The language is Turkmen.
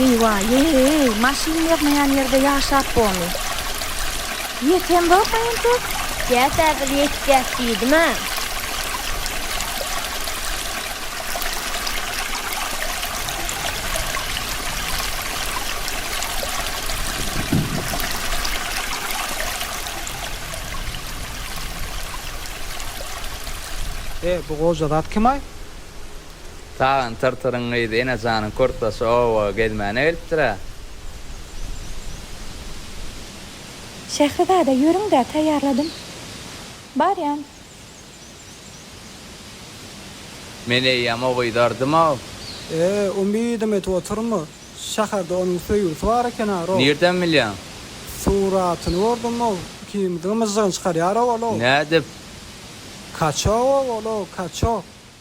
Eýwa-eý, maşyn ýygnaýan ýerde ýaşap bomy? Ýetemzok-a entek? Gäp-ä bir ýetýäs diýdim-ä. E, bu goja zat kim-aý? Tagan tyrtyryň gyzy Enejanyň kürtdaşy oba gezmäne gelipdir-ä. Şährizada, ýörüň-dä, taýýarladym. Barýan. Men eýýäm ogyzardym-ow. Ee, umydym edip oturma. Şäherde onuň söýgüsi bar eken-a-row. Nirden bilýäň? Suratyny gördüm-ow. Ikimiziň myžžygyny çykarýar-ow ol-ow. Nädip? Kaço-ow ol-ow, kaço.